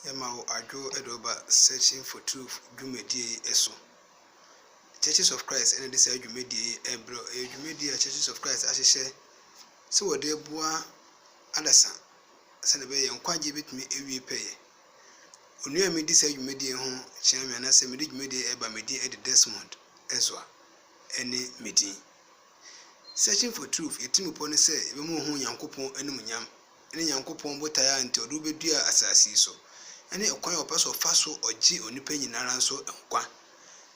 Yɛma wo adwo de wo ba Searching for Truth dwumadie yi so. Churches of Christ na de saa dwumadie yi rebrɛ. Ɛyɛ dwumadie a Churches of Christ ahyehyɛ sɛ wɔde boa adasa sɛdeɛ ɛbɛyɛ yɛn nkwagyeɛ bɛtumi awie pɛyɛ. Onua a medi saa dwumadie ho kyerɛ me anaasɛ mede dwumadie ɛba me din ɛde Desmond Ezwa ɛne me din. Searching for Truth yɛtirimupɔ ne sɛ yɛbɛma ɔhu Nyankopɔn animuonyam ne Nyankopɔn botae a nti ɔde wo beduaa asase yi so, ne ɔkwan a ɔpɛ sɛ ɔfa so ɔgye onipa nyinara nso nkwa.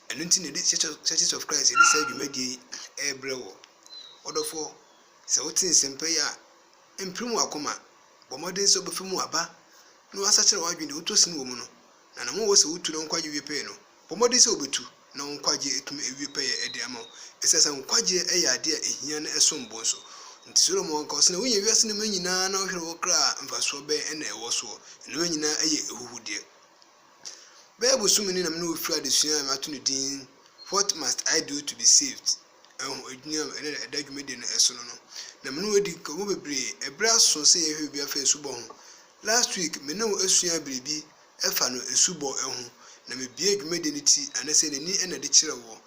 Ɛno nti na yɛde Church of, Churches of Christ yɛde saa dwumadie yi ɛrebrɛ woɔ. Ɔdɔfoɔ, sɛ wote nsɛmpa yi a, mpirim w'akoma, bɔ mmɔden sɛ wobɛfa mu aba na woasakyera w'adwene deɛ wotɔ sin wɔ mu no, na anamɔ a ɛwɔ sɛ wotu na wo nkwagye wie pɛɛ no, Bɔ mmɔden sɛ wubetu, na wo nkwagye atumi awie pɛyɛ de ama wo. Esiane sɛ nkwagye yɛ ade a ehia na ɛsom bo nso nti, Solomon ka, Ɔse na wunya wiase nnomaa nyinaa na wohwere wo kra a, mfasoɔ bɛn na ɛwɔ soɔ? Nnomaa nyinaa yɛ ahuhudeɛ. Bɛyɛ bosome ni na me ne wo firi adesua a mato no din What Must I Do to Be Saved? ho adwini a ɛnnɛ ɛda dwumadi no so no no, na me ne wo adi nkɔmmɔ bebree. Bere aso sɛ yɛhwɛ biribi afa asubɔ ho. Last week, me ne wo asuaa biribi Ɛfa no asubɔ ho na mebue dwumadi no ti anasɛ n'ani na ɛde kyerɛ woɔ.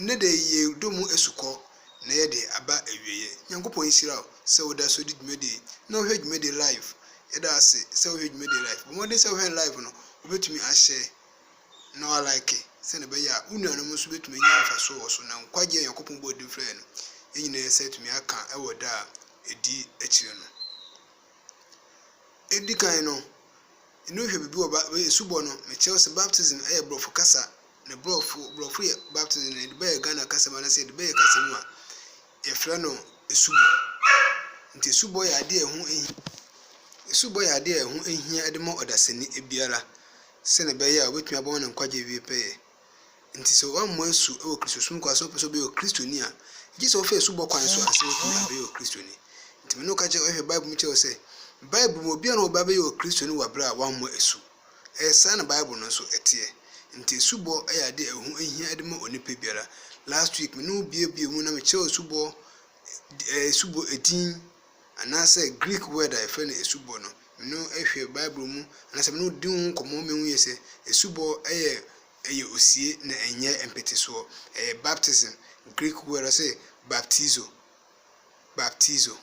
Nnɛ da yi yɛredɔ mu asukɔ na yɛde aba awieɛ. Nyankopɔn nhyira wo sɛ woda so di dwumadi yi na wohwɛ dwumadi yi live. Yɛda ase sɛ wohwɛ dwumadi yi live. Bɔ mmɔden sɛ wohwɛ no live no, wobɛtumi ahyɛ na woalike sɛdeɛ ɛbɛyɛ a wo nuanom nso bɛtumi anya mfasoɔ wɔ so na nkwagyeɛ a Nyankopɔn bɔɔ din frɛɛ no yɛn nyinaa nsa atumi aka wɔ da a ɛdi akyire no. Ɛdi kan no, ani hwɛ biribi wɔ Bib asubɔ no. Mekyerɛw sɛ baptism yɛ Borɔfo kasa, na Borɔfo Borɔfo yɛ baptism no, yɛde bɛyɛ Ghana kasa mu anaasɛ yɛde bɛyɛ kasa mu a, yɛfrɛ no asubɔ. Nti asubɔ yɛ adeɛ a ɛho hi asubɔ yɛ adeɛ a ɛho hia de ma ɔdasani biara sɛdeɛ ɛbɛyɛ a wɔbɛtumi abɔ ne nkwagyeɛ awie pɛyɛ. Enti sɛ woammɔ asu wɔ Kristosom kwan so na wopɛ sɛ wobɛyɛ Kristoni a, gye sɛ wofa asubɔ kwan so ansa na woatumi abɛyɛ Kristoni. Enti me ne wo ka kyerɛ, wohwɛ Bible mu kyerɛ wo sɛ, Bible mu, obiara na ɔba bɛyɛ Kristoni wɔ bere a wammɔ asu. Ɛyɛ saa na Bible no nso teɛ. Enti asubɔ yɛ ade a ɛho hia de ma onipa biara. Last week, me ne wo buebuee mu na mekyerɛw asubɔ, asubɔ edin Anaasɛ Greek word a yɛfrɛ no asubɔ no, me no hwɛ Bible mu anaasɛ me no di ho nkɔmmɔ ma mehu yɛ sɛ asubɔ yɛ ɛyɛ osie na ɛnyɛ mpetesoɔ. Ɛyɛ baptism, Greek word ɔse baptizo, baptizo,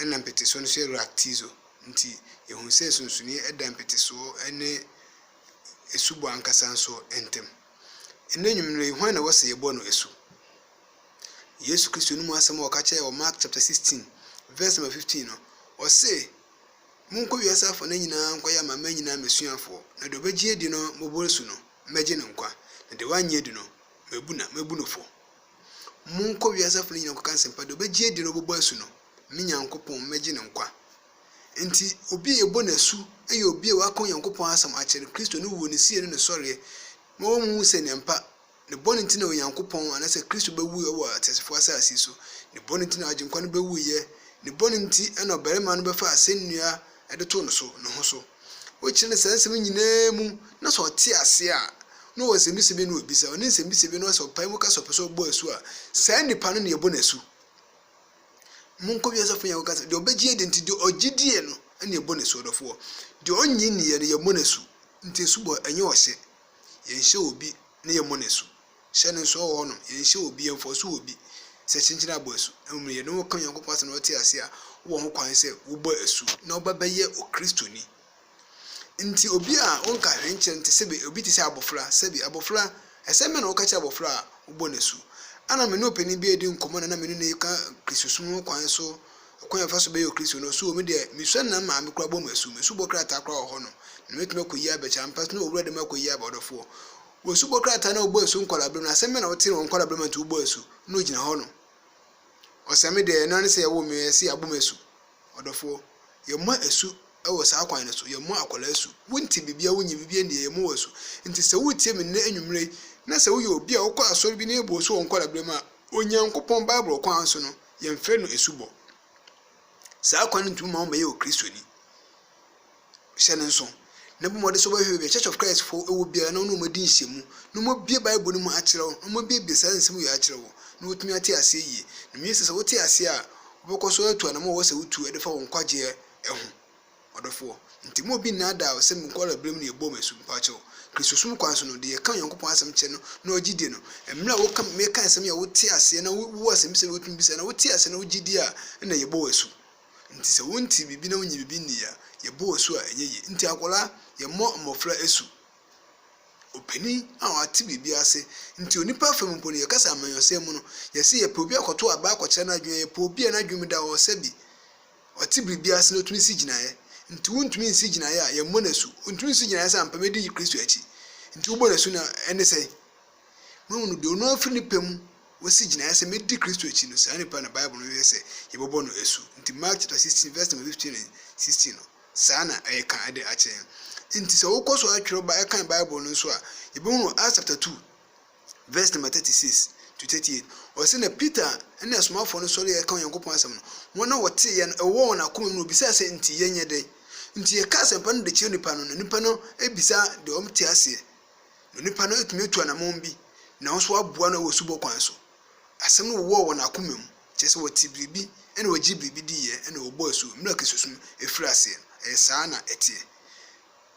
ɛna mpetesoɔ no nso yɛ raktizo. Nti yɛhu sɛ sumsunie da mpetesoɔ ne asubɔ ankasa nso ntam. Nnɛ nwummerɛ yi, hwan na ɛwɔ sɛ yɛbɔ no asu? Yesu Kristo no mu asɛm a ɔka kyerɛɛ wɔ Mark chapter 16 verse number 15 no, ɔse, Monkɔ wiase afanan nyinaa nkɔyɛ amanaman nyinaa m'asuafoɔ, na deɛ ɔbɛgye adi no mmɔborɔ su no, mɛgye no nkwa, na deɛ wannye adi no, mabu na mɛbu no fɔ. Monkɔ wiase afanan nyinaa nkɔka nsɛmpa, deɛ ɔbɛgye adi no ɔbɛbɔ asu no, me Nyankopɔn, mɛgye no nkwa. Enti, obi a yɛbɔ no asu yɛ obi a waka Onyankopɔn asɛm akyerɛ no, Kristo ne wuo, ne sie ne ne sɔreɛ, ma wɔn mu hu sɛ nneɛmpa. Ne bɔne nti na Onyankopɔn, anaasɛ Kristo bɛwuiɛ wɔ ateasefoɔ asase so. Ne bɔne nti na Agyenkwa no bɛwuiɛ. Ne bɔne nti na ɔbarima no bɛfaa asɛnnua de too no so, ne ho so. Wokyerɛ no saa nsɛm yi nyinaa mu, na sɛ ɔte aseɛ a, na ɔwɔ nsɛmmisa bi na ɔbisa. Ɔne nsɛmmisa bi no, sɛ ɔpae mu ka sɛ ɔpɛ sɛ ɔbɔ asu a, saa nipa no na yɛbɔ no asu. Monkɔ wiase afo nyinaa kɔka sɛ, deɛ ɔbɛgye adi nti, deɛ ɔgye die no na yɛbɔ no asu, ɔdɔfoɔ. Deɛ ɔnnye nniiɛ no, yɛmmɔ no asu. Nti asubɔ, ɛnyɛ ɔhyɛ. Yɛnhyɛ obi na yɛmmɔ no asu. Hyɛ no nsow a ɔwɔ hɔ no, yɛnhyɛ obi, yɛmfɔw so wɔ obi sɛ kyenkyen abɔ asu. Mmom no, yɛne wɔn ka Onyankopɔn Asɛm na wɔte ase a, wowɔ ho kwan sɛ wobɔ asu na wobɛbɛyɛ Okristoni. Enti obi a wonka hwee nkyerɛ no te sɛ bi, obi te sɛ abofra. Sɛbi, abofra, asɛm bɛn na woka kyerɛ abofra a wobɔ no asu? Ana me ne ɔpanyin bi redi nkɔmmɔ na na me ne no reka Kristosom ho kwan so Ɔkwan a yɛfa so bɛyɛ Okristoni no, So me deɛ, mesua nna maa me kora bɔ mu asu? Me so bɔ krataa koraa wɔ hɔnom, na mɛtumi akɔyi aba kyɛ? Ampa so na Owura de me akɔyi aba? Ɔdɔfoɔ, Wo so bɔ krataa na wobɔ asu nkwadaa-berɛ mu no, asɛm bɛn na wotee no wɔ nkwadaa-berɛ mu a enti wobɔ asu? Na ɔgyina hɔnom. Ɔsɛ me deɛ, ɛno ara ne sɛ yɛwoo me, ɛsɛ yɛabɔ me asu. Ɔdɔfoɔ, Yɛmmɔ asu wɔ saa kwan no so, yɛmmɔ akwadaa asu. Wonte biribiara, wonyɛ biribiara nni, yɛmmɔ wo asu. Enti sɛ woretie me nnɛ anwummerɛ yi, na sɛ woyɛ obi a wokɔ asɔre bi na yɛbɔ wo asu wɔ nkwadaa-berɛ mu a, Onyankopɔn Bible kwan so no, Yɛmfrɛ no asubɔ. Saa kwan no tumi ma wobɛyɛ Okristoni. Hyɛ no nso, na bɔ mmɔden sɛ wobɛhwɛ baabi a Church of Christ fo wɔ biara na wo ne wɔn adi nhyiamu, na wɔabue Bible no mu akyerɛ wo, na wɔabuebue saa nsɛm wei akyerɛ wo, na woatumi ate aseɛ yie. Na menim sɛ sɛ wote aseɛ a, wobɛkɔ so atu anammɔn a ɛwɔ sɛ wotu de fa wo nkwagyeɛ ho. Ɔdɔfoɔ, nti mma obi nnaadaa wo sɛ munkɔɔla berɛ mu na yɛbɔɔ mo asu. Mpakyɛw, Kristosom kwan so no, deɛ yɛka Onyankopɔn asɛm kyerɛ no na ɔgye die no, mmerɛ a woka meka nsɛm yi a wote aseɛ na wo wɔ asɛmbisa bi a wotumi bisa na wote aseɛ na wogye die a nna yɛbɔ wo asu. Nti sɛ wontee biribi na wonyee biribi nnii a, yɛbɔ wo asu a ɛnyɛ yie. Nti akwadaa, yɛmmɔ mmɔfra asu. Opanin a ɔate biribi ase, nti onipa fam mpo no yɛka sɛ amanyɔsɛm mu no, yɛse yɛpɛ obi akɔto abaa akɔkyerɛ no adwene a, yɛpɛ obi a n'adwene mu da hɔ sɛ bi, Ɔte biribi ase na otumi si gyinaeɛ. Nti wontumi nsi gyinaeɛ a yɛmmɔ no asu. Ontumi nsi gyinaeɛ sɛ ampa mɛdi Kristo akyi. Nti wobɔ no asu na ɛne sɛn? Moahunu, deɛ ɔno ara firi ne pɛ mu wasi gyinaeɛ sɛ mɛdi Kristo akyi no, saa nipa na Bible no yɛ sɛ yɛbɛbɔ no asu. Nti Mark chapter sixteen verse number fifteen and sixteen no, saa na ɛreka de akyerɛ yɛn. Nti sɛ wokɔ so ara twerɛ ba ɛkan Bible no nso a, yɛbɛhunu wɔ Acts chapter two Vɛs nama 36-38, ɔse, Na Peter ne asomafoɔ no sɔree a ɛreka Onyankopɔn asɛm no, wɔn a wɔteeɛ no, ɛwowɔɔ wɔn akoma mu na wɔbisaa sɛ, Nti yɛnyɛ dɛn? Nti yɛka asɛmpa no de kyerɛ nnipa no, na nnipa no bisa deɛ wɔte aseɛ, na onipa no tumi tu anamɔn bi, na wɔn nso aboa no wɔ asubɔ kwan so. Asɛm no wowɔɔ wɔn akoma mu, kyerɛ sɛ wɔtee biribi na wɔgyee biribi diiɛ na wɔbɔɔ asu mmerɛ a Kristosom firii aseɛ no, ɛyɛ saa na ɛteɛ.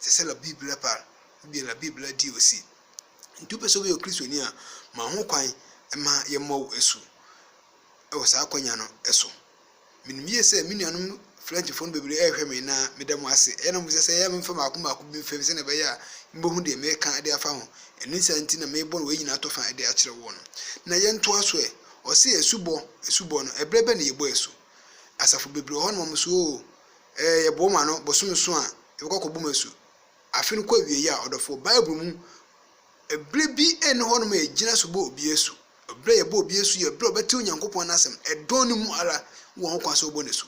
te sɛ la Bible par, ebia la Bible di osi. Enti wopɛ sɛ woyɛ Okristoni a, ma ho kwan ma yɛmmɔ wo asu wɔ saa akwannya no so. Minim yie sɛ me nuanom Frenchfo no bebree rehwɛ me na meda mo ase. Ɛyɛ na mobisa sɛ, 'Yɛ a memfa mmaako mmaako bi mfam sɛnea ɛbɛyɛ a mubehu deɛ mereka de afa ho? Ɛno saa nti na merebɔ wei nyinaa tɔfa de akyerɛ wɔn. Na yɛntoa so ɛ. Ɔse asubɔ, asubɔ no, ɛberɛ bɛn na yɛbɔ asu? Asafo bebree wɔ hɔ na wɔn nso, oo, Ɛɛ, yɛboa ma no bosome so a yɛbɛkɔ akɔbom asu. Afe no kɔ awiei a, ɔdɔfoɔ, Bible mu, ɛberɛ bi nni hɔnom a yɛgyina so bɔ obi asu. Ɛberɛ a yɛbɔ obi asu yɛ ɛberɛ a ɔbɛte Onyankopɔn n'asɛm, ɛdɔn no mu ara, wowɔ ho kwan sɛ wobɔ no asu.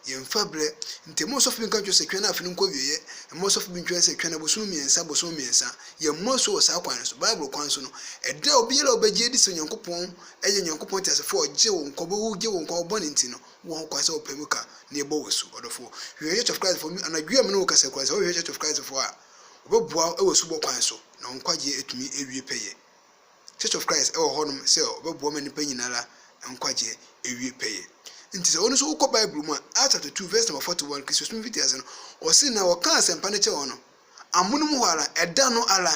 Yɛmfa berɛ. Nti ɛmma ɔsɔfo bi nka nkyerɛ wo sɛ twɛn na afe no nkɔ awieɛ, ɛmma ɔsɔfo bi ntwɛn sɛ twɛn abosome mmiɛnsa, abosome mmiɛnsa. Yɛmmɔ asu wɔ saa kwan no so. Bible kwan so no, ɛda a obiara a ɔbɛgye adi sɛ Onyankopɔn yɛ Onyankopɔn teasefoɔ a ɔgye wo nkwa, ɔbɛwu gye wo nkwa wɔ bɔne nti no, Wowɔ ho kwan sɛ wopɛ mu ka nea ɛbɔ wo asu. Ɔdɔfo, hwehwɛ Church of Christ fo. Anadwo yi a me ne wo rekasa koraa, sɛ wohwehwɛ Church of Christ fo a, wɔbɛboa wo wɔ asubɔ kwan so, na wo nkwagyeɛ atumi awie pɛyɛ. Church of Christ wɔ hɔnom sɛ wɔbɛboa ma nnipa nyina ara nkwagyeɛ awie pɛyɛ. Nti sɛ wo nso wokɔ Bible mu a, Acts chapter two verse number forty one, Kristosom mfitiase no, wɔse na wɔkaa asɛmpa no kyɛɛ wɔn. Amono mu hɔ ara, ɛda no ara,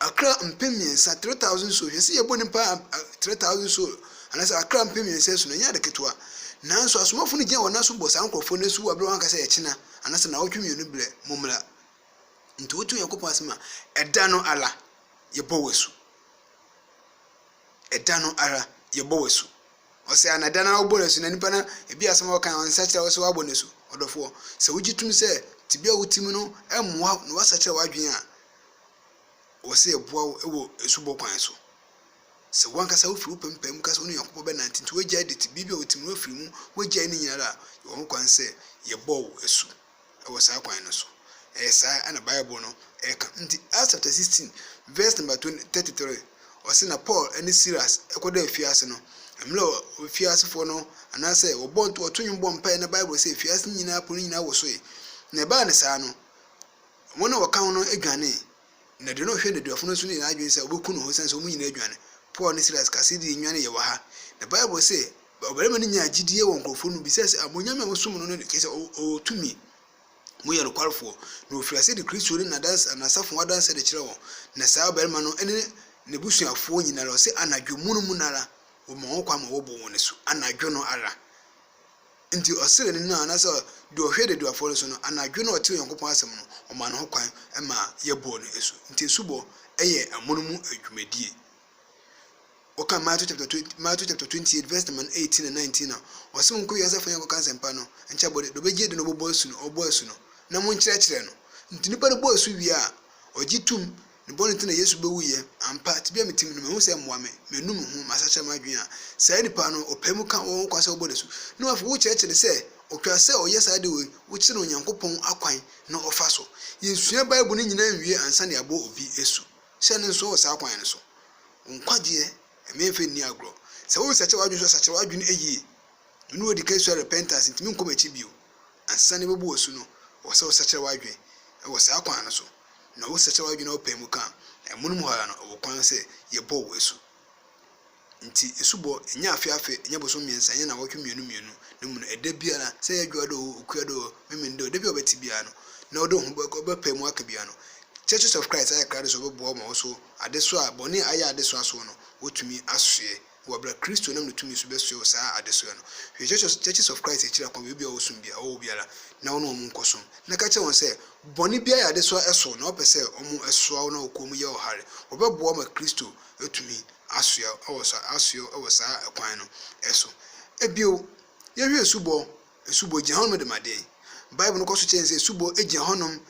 akra mpem mmiɛnsa, three thousand souls, yɛse yɛbɔ nnipa three thousand souls, anaasɛ akra mpem mmiɛnsa asu no, ɛnyɛ ade ketewa. Nanso asomafo no gyina wɔn nan so bɔ saa nkurɔfoɔ no asu wɔ berɛ a wɔanka sɛ ɛkyena, anaasɛ naawɔtwe mmienu berɛ, mommra. Nti wote Onyankopɔn asɛm a, ɛda no ara, yɛbɔ wo asu. Ɛda no ara, yɛbɔ wo asu. Ɔsɛ ana da no ara wobɔ no asu na nipa no ebi asɛm a ɔkae ɔnsakyera wo sɛ woabɔ no asu? Ɔdɔfoɔ, sɛ wogye tom sɛ tebea a wote mu no mmoa wo na woasakyera w'adwene a, ɛwɔ sɛ yɛboa wo wɔ asubɔ kwan so. Sɛ w'ankasa wofiri wo pɛ mpae mu ka sɛ wo ne Onyankopɔn bɛnante nti woagyae de tebea bi a wote mu no afiri mu, woagyae ne nyinaa a, yɛwɔ hokwan sɛ yɛbɔ wo asu. wɔ saa kwan no so. Ɛyɛ saa na Bible no ka. Enti, Acts chapter sixteen verse number twenty, thirty three, ɔse, Na Paul ne Silas kɔdaa afiase no. Mmerɛ a afiasefoɔ no, anaasɛ wɔbɔ nto wɔto nnwom bɔ mpaeɛ na Bible se afiase no nyinaa pono no nyinaa wosoe. Na ɛbaa no saa no, wɔn a wɔka ho no dwanee, na deɛ na ɔhwɛ nneduafo no nso ne n'adwene sɛ ɔbɛku ne ho, ɛsiane sɛ wɔn nyinaa adwane. Paul ne Silas ka sɛ, Yɛde yɛn nnwan yɛ wɔ ha. Na Bible se Ɔbarima no nyaa gyidie wɔ nkurɔfoɔ no mu bisae sɛ, Abonyame a wosom no no ne kyerɛ sɛ ɔwɔ tumi? Moyɛ nokwarefoɔ? Na ɔfirii aseɛ de Kristo ne n'adanse, n'asafo ho adanseɛ de kyerɛɛ wɔn. Na saa ɔbarima no ne n'abusuafoɔ nyina ara, ɔse, anadwo mono mu no ara, wɔmaa wɔn kwan ma wɔbɔɔ wɔn asu. Anadwo no ara. Nti ɔsrɛɛ ne nua, anaasɛ deɛ ɔhwɛ daduafoɔ no so no, anadwo no a ɔtee Onyankopɔn asɛm no, ɔmaa ne ho kwan maa yɛbɔɔ no asu. Nti asubɔ yɛ amonom mu adwumadie. Wɔka Matthew chapter twe Matthew chapter twenty eight verse number eighteen and nineteen a, ɔsɛ wɔn nkɔ wiase afa nyinaa nkɔka nsɛmpa no nkyɛ bɔ de de ɔbɛgye adi na ɔbɛbɔ asu no ɔbɔ asu no na mo nkyerɛkyerɛ no nti nipa no bɔ asu wie a ɔgye tum ne bɔne nti na Yesu bɛwu yɛ ampa tibia me tim no mehu sɛ mmoa me manu me ho masakyera m'adwene a saa nipa no ɔpɛ mu ka wɔn kwan sɛ ɔbɔ n'asu na wɔafi wo kyerɛkyerɛ no sɛ ɔtwa sɛ ɔyɛ saa de wei wokyerɛ no Onyankopɔn akwan na ɔfa so yɛnsua Bible no nyinaa nwie ansa na yɛabɔ obi asu Hyɛ no nsow wɔ saa kwan no so. Wo nkwagyeɛ mmɛmfa nni agorɔ. Sɛ wo resakyera w'adwene nso a, sakyera w'adwene yie. Me ne wo adi kan sua repentance, ntumi nkɔ m'akyi bio. Ansa na ɛbɛbu w'asu no, ɛwɔ sɛ wo sakyera w'adwene wɔ saa kwan no so. Na wo sakyera w'adwene na wo pae mu ka a, amonom hɔ ara no, ɛwɔ kwan sɛ yɛbɔ wo asu. Ntsi esubɔ, nnyɛ afe afe, nnyɛ bosoom miɛnsa, nnyɛ naawɔtwe mienu mienu, na mbom da biara, sɛ eyɛ edwoa do o, okua do o, memen do o, da bi a ɔbɛtse biara no, na ɔdze woho bɛkɔ, ɔbɛpae mu aka biara no, Churches of Christ ayɛ krado sɛ wɔbɔboa wo ma wo so adesoa a bɔne a ayɛ adesoa sow no, woetumi asoɛ wɔ aber a Kristo nam no tumii so bɛsoɛ wo saa adesoa no. Hwɛ Church, Churches of Christ ekyir akwan beebi a ɔwɔ som bi a ɔwɔ hɔ biara, na wo na hɔn nkɔ som, na ka kyerɛ hɔn sɛ, bɔne bi ayɛ adesoa sow, na wɔpɛ sɛ wɔsoa wo na wɔkɔ mu yɛ ɔhare, wɔbɛboa wo ma Kristo etumi asoɛ wɔ saa asoɛ wɔ saa kwan no so. Bio, yɛhwɛ asubɔ, asubɔ gyina hɔnom de ma deɛn? Bible no kɔ so kyerɛ yɛn sɛ asubɔ gyina hɔnom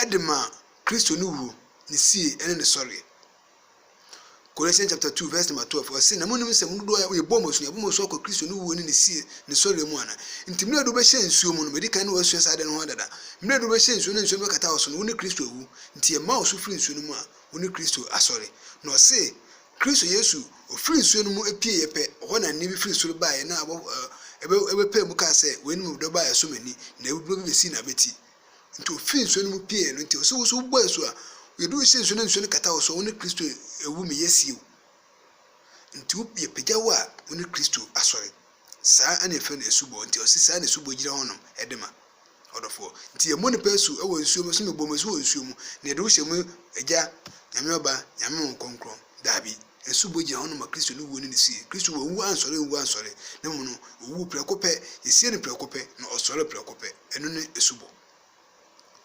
de ma Kristo ne wuo, ne sie ne ne sɔreɛ. Colossians chapter 2 verse number 12 ɔse na monim sɛ mo dodoɔ a yɛbɔ mo asu yɛbɔ mo asu akɔ Kristo ne wuo ne ne sie ne sɔreɛ mu ana nti mmerɛ du bɛhyɛ nsuo mu no mɛdi kan ne wɔasua saa ade no ho adada mmerɛ du bɛhyɛ nsuo ne nsuo no bɛkata wɔ so no wo ne Kristo awu nti yɛma wo so firi nsuo no mu a Wo ne Kristo asɔre. Na ɔse, Kristo Yesu, ɔfiri nsuo no mu pieeɛ pɛ, hɔ na nne bi firi soro baeɛ, na ɔbɔ, ɔbɔ, ɔbɛpae mu kaa sɛ, Wei ne me dɔba a ɛsɔ m'ani, na awuduro bi bɛsii n'abati. Nti ɔfiri nsuo no mu pieeɛ no nti, ɔse, Wo nso wobɔ asu a, yɛde wo hyɛ nsuo na nsuo no kata wo so, wo ne Kristo awu, meyɛ sie wo. Nti wo, yɛpagya wo a, wo ne Kristo asɔre. Saa na yɛfrɛ no asubɔ. Nti ɔse saa na asubɔ gyina hɔ nom de ma. Ɔdɔfoɔ. Nti yɛmmɔ nipa asu wɔ nsuo mu, ɔse mebɔ mo asu wɔ nsuo mu, na yɛde wo hyɛ mu Agya, Nyame Ɔba, Nyame Honhom Kronkron. Daabi. Asubɔ gyina hɔ nom ma Kristo ne wuo ne ne sie. Kristo wanwu ansɔre anwu ansɔre, na mmom no, owuu prɛko pɛ, yɛsiee no prɛko pɛ, na ɔsɔree prɛko pɛ. Ɛno ne asubɔ.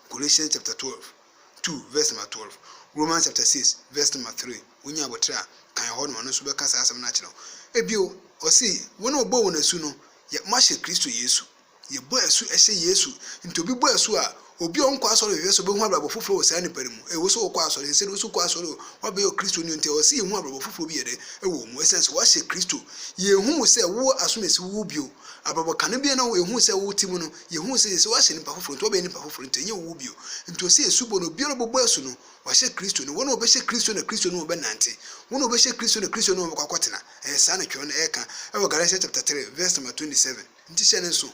Colossians chapter twelve two verse number twelve Romans chapter six verse number three wonya abotire a kan hɔ na ɔno nso bɛka saa asɛm no akyerɛ wo ebio ɔse wɔn a ɔbɔ wɔn asu no yɛ mo ahyɛ Kristo Yesu yɛbɔ asu ɛhyɛ Yesu nti obi bɔ asu a obi a ɔnkɔ asɔre hwehwɛ sɛ ɔbɛhu abrabɔ foforɔ wɔ saa nipa no mu ɛwɔ sɛ ɔkɔ asɔre ɛsɛ ɔsɛ ɔkɔ asɔre o wabɛyɛ Kristo ni nti ɔsɛ yɛhu abrabɔ foforɔ bi yɛ dɛ ɛwɔ mu ɛsiane sɛ wahyɛ Kristo yɛhu wo sɛ wo asomasi wo bio Abrabɔ kane biara na yɛhuu sɛ wo te mu no, yɛhuu sɛ yɛsɛ wɔahyɛ nnipa foforɔ nti wɔbɛyɛ nnipa foforɔ nti ɛnyɛ wo bio. Nti ɔsɛ yɛsu bɔ no obiara ɔbɛbɔ asu no wɔahyɛ Kristo no wɔn a wɔbɛhyɛ Kristo na Kristo ne wɔn bɛnante wɔn a wɔbɛhyɛ Kristo na Kristo ne wɔn bɛkɔ akɔtena ɛyɛ saa na twerɛ no ɛreka ɛwɔ Galatians chapter 3 verse number 27 nti hyɛ no nso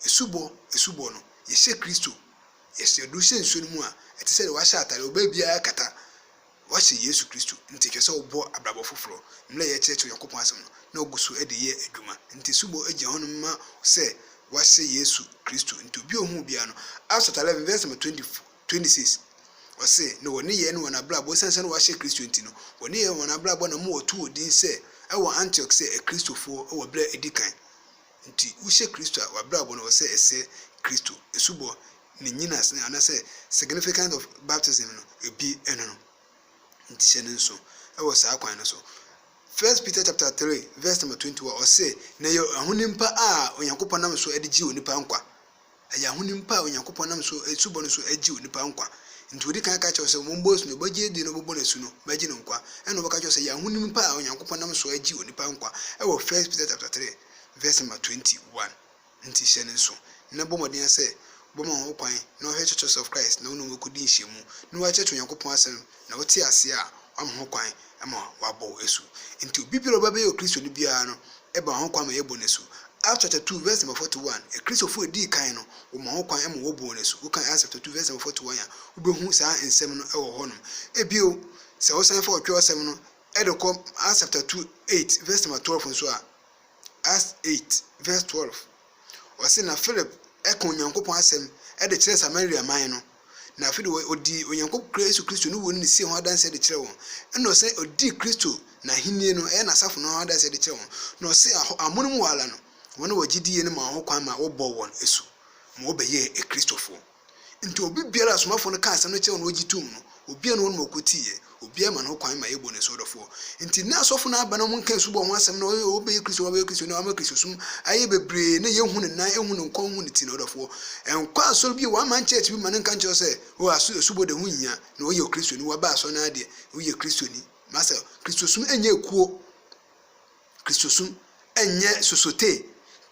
ɛsu bɔ ɛsu bɔ no yɛhyɛ Kristo yɛhyɛ do hyɛ nsuo no mu a ɛte sɛ deɛ wɔahyɛ atare ɔbaa biara kata Wɔahyɛ Yesu Kristo, nti ɛsɛ sɛ ɔbɔ abrabɔ foforɔ. Mmerɛ a yɛrekyerɛkyerɛ Onyankopɔn asɛm no, na ɔgu so de yɛ adwuma. Nti subɔ gyina hɔ nom ma sɛ wɔahyɛ Yesu Kristo. Nti obi a ɔhu obiara no, Acts chapter eleven verse number twenty twenty six, ɔse, Na wɔn nneyɛɛ ne wɔn abrabɔ, esiane sɛ na wɔahyɛ Kristo nti no, wɔn nneyɛɛ ne wɔn abrabɔ na ama wɔatoo wɔn din sɛ, ɛwɔ Antioch sɛ, Akristofoɔ, wɔ berɛ a ɛdi kan. Nti wohyɛ Kristo a w'abrabɔ no wɔ sɛ ɛsɛ Kristo asubɔ ne nnyinaso no anaasɛ significance of baptism no ebie ɛno no nti hyɛ no nso ɛwɔ saa kwan no so. First Peter chapter three verse number twenty wɔ ɔse na ɛyɛ ahonim pa a Onyankopɔn nam so ɛde gye onipa nkwa. Ɛyɛ ahonim pa a Onyankopɔn nam so asubɔ no so agye onipa nkwa. Enti odi kan ka kyerɛ wo sɛ, Mommɔ asu, na wobɛgye adi na wobɛbɔ no asu no, mɛgye no nkwa. Ɛnna ɔbɛka akyerɛ wo sɛ ɛyɛ ahonim pa a Onyankopɔn nam so agye onipa nkwa wɔ First Peter chapter three verse number twenty one. Enti hyɛ no nsow, na bɔ mmɔden ara sɛ wobɛma wo ho kwan na woahwɛ Churches of Christ na wo ne wɔn akodi nhyiamu, na woakyerɛkyerɛ Onyankopɔn Asɛm na ɔte ase a, wama ho kwan ma wɔabɔ wo asu. Enti obi biara a ɔba bɛyɛ Okristoni biara no, ɛma ho kwan ma yɛbɔ no asu. Acts chapter two verse number forty one, Kristofo a edii kan no, wɔma ho kwan ma wɔbu wɔn asu. Wokan Acts chapter two verse number forty one a, wubehu saa nsɛm no wɔ hɔnom. Bio, sɛ wosan fa Ɔtwerɛsɛm no de kɔ Acts chapter two eight verse number twelve nso a, Acts eight verse twelve, ɔse, Na Philip ka Onyankopɔn asɛm de kyerɛɛ Samaria man no. na afei de ɔdii Onyankopɔn Kra Yesu Kristo ne wuo ne ne sie ho adanseɛ de kyerɛɛ wɔn, ɛna ɔsan ɔdii Kristo n'ahennie no, ɛyɛ n'asafo no ho adanseɛ de kyerɛɛ wɔn, na ɔse amonom wɔ ara no, wɔn a wɔgye diiɛ no maa ho kwan ma wɔbɔɔ wɔn asu ma wɔbɛyɛɛ Akristofoɔ. Nti obi biara a asomafoɔ no kaa asɛm no kyerɛɛ wɔn na wɔgye toom no, obiara ne wɔnom ɔkɔtiiɛ. Obiara ma no ho kwan ma yɛbɔ no asoɔdɔfoɔ. Nti na asɔfo no aba na wɔn nka asubɔ ho asɛm na wɔyɛ o ɔbɛyɛ Kristo wabɛyɛ Kristo na wama Kristosum ayɛ bebree na yɛnhu ne nan ɛnhu ne nkɔn nhu ne ti na ɔdɔfoɔ nkɔ asɔre bio one man church bi ma no nka nkyerɛ wo sɛ o aso asubɔ de ho nhia na ɔyɛ Kristoni waba asɔre na adeɛ woyɛ Kristoni masa Kristosum ɛnyɛ ekuo Kristosum ɛnyɛ sosote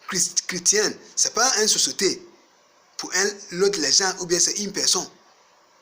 Christ Christian c'est pas un sosote pour un l'autre les gens ou bien c'est une personne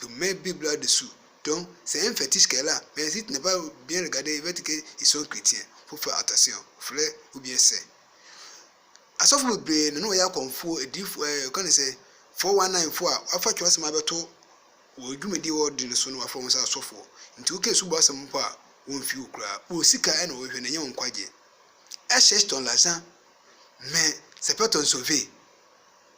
Do mɛn Bibla do su dɔn sɛ ɛ nfɛti sika la, mɛn asi tena ba bian ligade ɛ vɛti kɛ i sɔn kritiɛn foforɔ a ɔtase ɔ flɛ o bian sɛ. Asɔfo bebree na na wɔyɛ akɔmfoɔ, adiyifoɔ ɛ ɔka ne sɛ, 419 foɔ a wɔafa twerɛsɛm abɛto wɔ dwumadie wɔ de no so no wɔafrɛ wɔn sɛ asɔfoɔ, nti wo kɛ su bɔ asɛm mpo a wɔn mfi wo koraa, wɔn sika ɛ na wɔhwehwɛ na ɛnyɛ wɔn nkwagyeɛ. Ɛ cherche ton l'argent mais c'est pas ton sauver.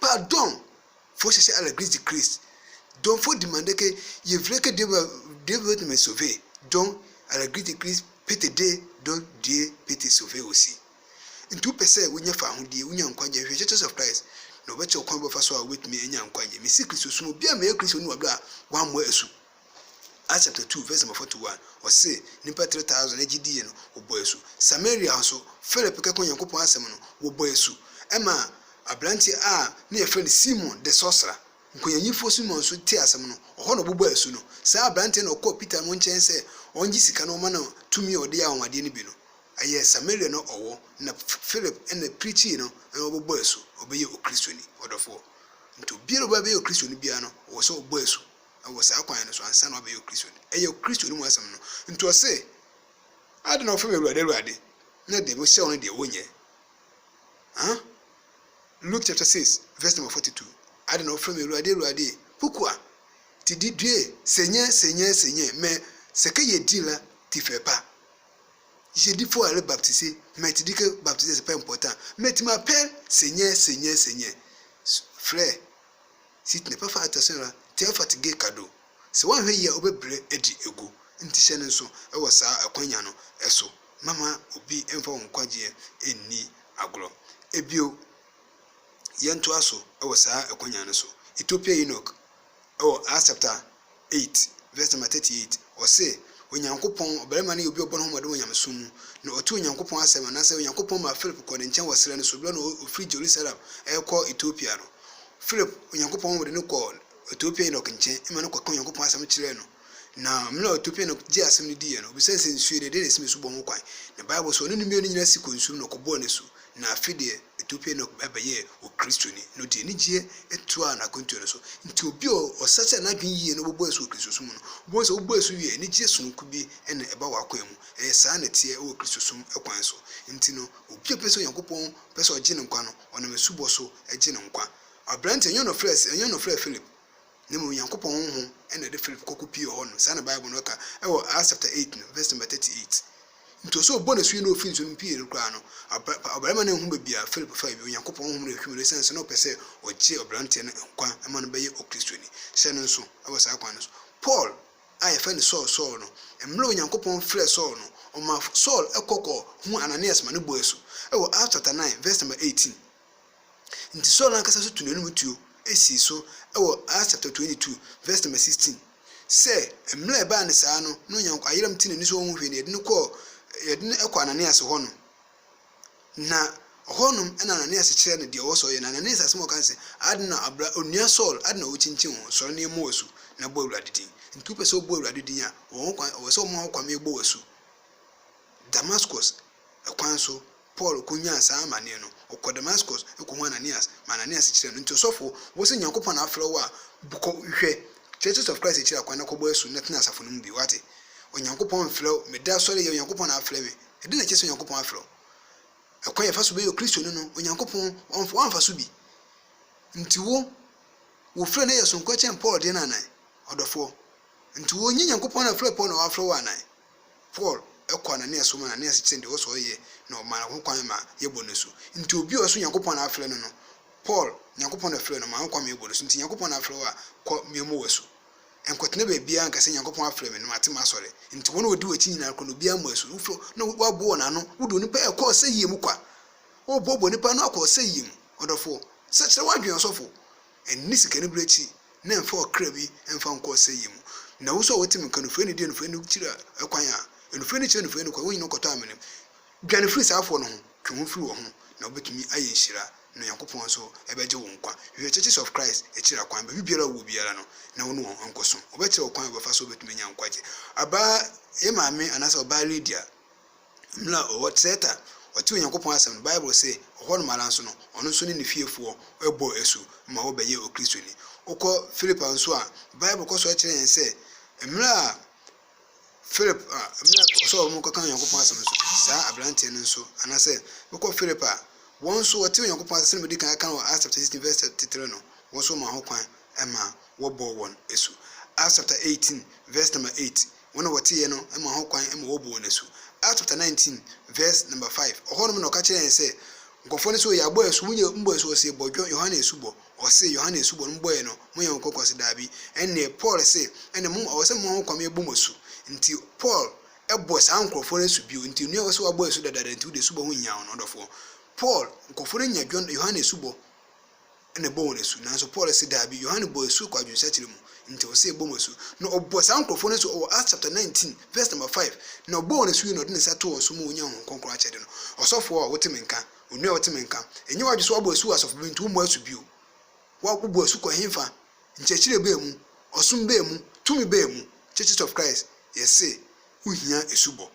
Pa dɔn fo sese ala gris di Kris, dɔn fo dimande ke ye vre ke Deus ve te me sove, dɔn ala gris di Kris pe te de dɔn die pe te sove wo si. Nti wopɛ sɛ wonya fahodie, wonya nkwagye, hwehwɛ Churches of Christ na wɔbɛkyerɛ wo kwan a wobɛfa so a wobɛtumi anya nkwagye. Mesi Kristosom, obi a meyɛ Kristoni wɔ berɛ a wammɔ asu. Acts chapter two verse number forty one, ɔse nnipa three thousand ɛgye diiɛ no wɔbɔɔ asu. Samaria nso, Philip kɛkɔɔ Nyankopɔn asɛm no, wɔbɔɔ asu. Ɛma abranteɛ a ne yɛfrɛ no Simon the sorcerer, nkonyanyimfoɔ Simon nso tee asɛm no, ɔhɔ na ɔbɔbɔɔ asu no. Saa abranteɛ na ɔkɔɔ Peter no nkyɛn sɛ ɔngye sika na ɔma no tumi a ɔde yɛ anwanwadeɛ no bi no. Ɛyɛ Samaria na ɔwɔ na Philip na preachee no na ɔbɔbɔɔ asu, ɔbɛyɛɛ Okristoni. Ɔdɔfoɔ, nti obiara a ɔbɛbɛyɛ Okristoni biara no, ɔwɔ sɛ ɔbɔ asu. wɔ saa kwan no so ansa na wabɛyɛ Okristoni. Ɛyɛ Okristoni mu asɛm no. Nti ɔse, Adɛn na wofrɛ me Awurade, Awurade, na deɛ mehyɛ wo no deɛ wonyɛ? Huh? Luke chapter 6 verse number 42. Adɛn na wofrɛ me Awurade, Awurade, pokua, ti didue, senyɛ, senyɛ, senyɛ, mɛ, sɛkɛ yɛ di la, ti fɛ pa, yɛ di fo ale baptise, mɛ ti dike baptise sɛ pɛ mpɔtan, mɛ ti ma pɛ, senyɛ, senyɛ, senyɛ, frɛ, Sit ne pɛfa atasin ra tɛ fat ge ka do. Sɛ woanhwɛ yie a wobɛbrɛ adi agu. Nti hyɛ no nso wɔ saa akwanya no so na ma obi mfa wo nkwagyeɛ nni agorɔ. Bio, yɛntoa so wɔ saa akwanya no so. Ethiopia Eunuch wɔ Asɛpta 8 vs nɔma 38, Ɔse, Onyankopɔn, ɔbarima no yɛ obi a ɔbɔ ne ho mmɔden wɔ nyamesom mu, na ɔte Onyankopɔn asɛm, anaasɛ Onyankopɔn maa Philip kɔɔ ne nkyɛn wɔ serɛ no so berɛ a na ɔfiri Jerusalem rekɔ Ethiopia no. Philip, Onyankopɔn honhom de no kɔɔ Ethiopia Eunuch nkyɛn ma no kɔkaa Onyankopɔn asɛm kyerɛɛ no, na mmerɛ a Ethiopia Eunuch gyee asɛm no diiɛ no, ɔbisae sɛ, Nsuo deɛ, deɛn na ɛsi me so bɔ ho kwan? Na Bible se, Ɔne ne mmienu no nyinaa si kɔɔ nsuo mu na ɔkɔbɔɔ n'asu, na afe deɛ, Edu bere a Enoch bɛyɛɛ Okristoni no, ɔde anigye toaa n'akwantu no so. Enti obi a ɔsakyera n'adwene yiye na ɔbɛbɔ asu wɔ Kristosom mu no, wubehu sɛ wobɔ asu wie a, anigye soronko bi na ɛba w'akwan mu. Ɛyɛ saa na ɛteɛ wɔ Kristosom kwan so. Enti no, obi a ɔpɛ sɛ Onyankopɔn pɛ sɛ ogye no nkwa no, ɔnam asubɔ so gye no nkwa. Aberante a ɛnyɛ ɔnofre a ɛsɛ, ɛnyɛ ɔnofre a Philip Na mmom Nyankopɔn honhom na ɛde Philip kɔkopiee hɔ no, saa na Bible no ka wɔ Acts chapter eight no verse number thirty eight. Nti ɔsɛ ɔbɔ n'asu yi na ɔfiri nsu no mu pii no koraa no, ɔbarima no anhu baabi a Philip faa bio, Nyankopɔn honhom na ɛhwim no ɛsiane sɛ na ɔpɛ sɛ ɔgye ɔbranteɛ no nkwa ma no bɛyɛ Okristoni. Hyɛ no nso wɔ saa kwan no so. Paul a yɛfrɛ no Saul, Saul no, mmerɛ Onyankopɔn frɛɛ Saul no, ɔmaa Saul kɔkɔ huu Ananias ma no bɔɔ asu wɔ Acts chapter nine verse number eighteen. Enti Saul ankasa nso tuu n'anom tuo sii so wɔ Acts chapter twenty two verse number sixteen sɛ mmerɛ a ɛbaa no saa no na Onyank ayerɛm te n'ani so ɔnhu hwee na yɛde no kɔɔ yɛde no kɔɔ Ananias hɔ no na ɔhɔ nom na Ananias kyerɛ no deɛ ɔwɔ sɛ ɔyɛ na Ananias asɛm a ɔka no sɛ ade na abra onua Saul ade na wokyinkyin wo ho sɔre na yɛmmɔ w'asu na bɔ Awurade din nti wopɛ sɛ wobɔ Awurade din a wɔn kwan ɔwɔ sɛ wɔma wo kwan ma yɛbɔ w'asu Damascus ɛkwan so Paul konyaa saa amanneɛ no, ɔkɔɔ Damascus kɔhuu Ananias, ma Ananias kyerɛɛ no. Enti ɔsɔfo, wo se Nyankopɔn na afrɛ wo a, bu kɔ, hwɛ, Churches of Christ akyiri akwan na kɔbɔ asu na tena asafo no mu bio. Woate? Onyankopɔn mfrɛ wo, meda asɔre yɛ, Onyankopɔn na afrɛ me. Ɛdɛn na ɛkyerɛ sɛ Onyankopɔn afrɛ wo? Ɛkwan a yɛfa so bɛyɛ Okristoni no, Onyankopɔn, ɔmfa, wamfa so bi. Enti wo, wo frɛ no yɛ sononko kyɛn Paul deɛ no anan? Ɔdɔfoɔ. Enti wo, nyɛ Nyankopɔn na afrɛ Paul na wafrɛ wo anan? Paul kɔ Anania so ma Anania sekyerɛ deɛ ɔwɔ sɛ ɔyɛ na ɔma no ho kwan ma yɛbɔ no asu. Nti obi a ɔwɔ sɛ Nyankopɔn na afrɛ no no, Paul, Nyankopɔn na frɛɛ no, ɔma no ho kwan ma yɛbɔ no asu. Nti Nyankopɔn na afrɛ wo a, kɔ, memmɔ wo asu. Nkɔtena baabiara nka sɛ Nyankopɔn afrɛ me na mate m'asɔre. Nti wɔn a wɔdi w'akyi nyinaa kɔ na obiara mmɔ asu. Wofrɛ wɔn na woabu wɔn ano. Wode onipa a ɛkɔ ɔsɛeɛ mu kwa. Woboaboa onipa ano akɔ ɔsɛeɛ mu. Ɔdɔfoɔ, sɛ kyerɛ w'adwene, ɔsɔfo. Ɛnni sikanibere akyi na ɛmfa ɔkra bi mfa nkɔ ɔsɛeɛ mu. Na wo nso a wote me nka no, firi anidie, anifuraeɛ no kyiri a, kwan a, anifuraeɛ no kyiri anifuraeɛ no kwan, wo nyina kɔtɔ amene mu. Dwane firi saa afoɔ no ho, twe ho firi wɔ ho, na wobɛtumi ayɛ nhyira, na Onyankopɔn nso bɛgye wo nkwa. Hwehwɛ Churches of Christ akyiri akwan, baabi biara a wowɔ biara no, na wo ne wɔn nkɔ som. Wɔbɛkyerɛ wo kwan a wobɛfa so a wobɛtumi anya nkwagyeɛ. Ɔbaa yɛ maame anaasɛ ɔbaa Lydia. Mmerɛ a ɔwɔ Kreta, ɔtee Onyankopɔn asɛm no, Bible se, ɔhɔ nom ara nso no, ɔno nso ne ne fiefoɔ bɔɔ asu ma wɔbɛyɛɛ Okristoni. Wokɔ Filipi nso a, Bible kɔ so kyerɛ yɛn sɛ, mmerɛ a Filipi a, mmerɛ a ɔsɛ wɔn kɔka Onyankopɔn asɛm no, saa aberanteɛ no nso, anaa sɛ, wokɔ Filipi a, wɔn nso wɔtee Onyankopɔn asɛm, sɛdeɛ madi kan aka no wɔ Acts chapter 16 verse 33 no, wɔn nso wɔmaa ho kwan ma wɔbɔɔ wɔn asu. Acts chapter 18 verse number 8, Wɔn a wɔteeɛ no maa ho kwan ma wɔbuu wɔn asu. Acts chapter nineteen verse number five, Ɛhɔ nom na ɔka kyerɛɛ yɛn sɛ, Nkurɔfoɔ no so, yɛabɔ asu, monyɛ mommɔ asu, wɔsee, Bɔ John, Yohane asubɔ. Wɔsee, Yohane asubɔ no mobɔeɛ no, moyɛ wɔn kɔkɔ? Wɔse, Daabi. Ɛnneɛ Paul se, Ɛnneɛ mo, ɛwɔ sɛ moma ho kwan ma yɛbɔ mo asu. Nti Paul bɔɔ saa nkurɔfoɔ no asu bio. Nti onua, wo se woabɔ asu dadaada nti wo deɛ asubɔ ho nhia wo no, ɔdɔfoɔ. Paul, nkurɔfoɔ no nya John, Yohane asubɔ. na ɛbɔ wɔn asu. Nanso Paul se daabi, Yohane bɔɔ asu kɔ adwensakyera mu, nti ɔse ɛbɔ mo asu. Na ɔbɔɔ saa nkurɔfoɔ no asu wɔ Acts chapter 19 verse number 5, na ɔbɔɔ wɔn asu yie na ɔde ne nsa too wɔn so ma wɔnyaa Honhom Kronkron akyɛde no. Ɔsɔfoɔ a, wote me nka? Onua a, wote me nka? Nyɛ w'adwene sɛ woabɔ asu wɔ asɔfo bi mu nti wommɔ asu bio. Wo, wobɔ asu kɔ henfa? Nkyerɛkyerɛ bɛn mu? Ɔsom bɛn mu? Tumi bɛn mu? Churches of Christ, yɛse wohia asubɔ.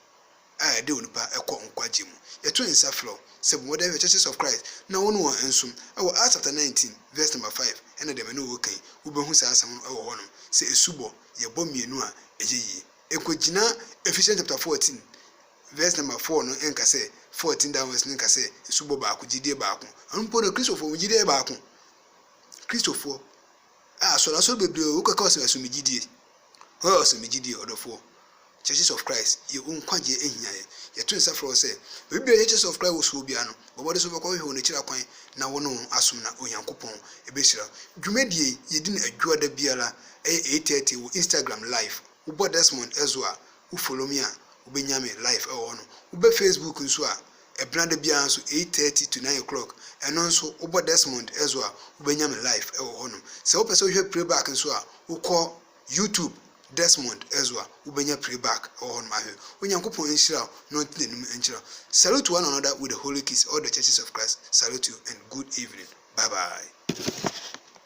a ɛde onipa kɔ nkwagye mu. Yɛto nsa frɛ wo sɛ bɔ mmɔden ahwɛ Churches of Christ na wo ne wɔn nsom. Ɛwɔ Acts chapter nineteen verse number five ɛna deɛ me ne wo reka yi, wobɛhu saa asɛm no wɔ hɔnom sɛ asubɔ yɛ bɔ mmienu a ɛyɛ yie. Ɛnkɔgyina Ephesians chapter fourteen verse number four no nka sɛ, fourteen downwards no nka sɛ asubɔ baako, gyedie baako. Ɛno mpo no Kristofoɔ wɔn gyedie yɛ baako. Kristofoɔ. Ah asɔr asɔr bebree o wokɛka ɔse ɛso megye die oh ɔse megye die ɔdɔfoɔ Churches of Christ yɛ wo nkwagyeɛ ahia yɛ yɛto nsa frɛ wo sɛ baabi biara yɛ Churches of Christ wɔ so wɔ biara no bɔ mmɔden sɛ wobɛkɔ hwehwɛ wɔn akyiri akwan na wo ne wɔn asom na Onyankopɔn ɛbɛhyira wo dwumadie yi yɛdi no adwuada biara ɛyɛ 8:30 wɔ Instagram live. Wobɔ Desmond ɛso a wo follow me a wobɛnya me live ɛwɔ hɔ nom. Wobɛ Facebook nso a ɛbena da biara nso 8:30 to 9 o'clock ɛno nso wobɔ Desmond ɛso a wobɛnya me live ɛwɔ hɔ nom. Sɛ wopɛ sɛ wohwɛ preback nso a wokɔ YouTube Desmond ɛso a wobɛnya preback ɛwɔ hɔ nom ahwɛ. Onyankopɔn nhyira wo na ɔnte n'anim nkyerɛ wo. Salute one another with a holy kiss all the churches of Christ salute you and good evening bye bye.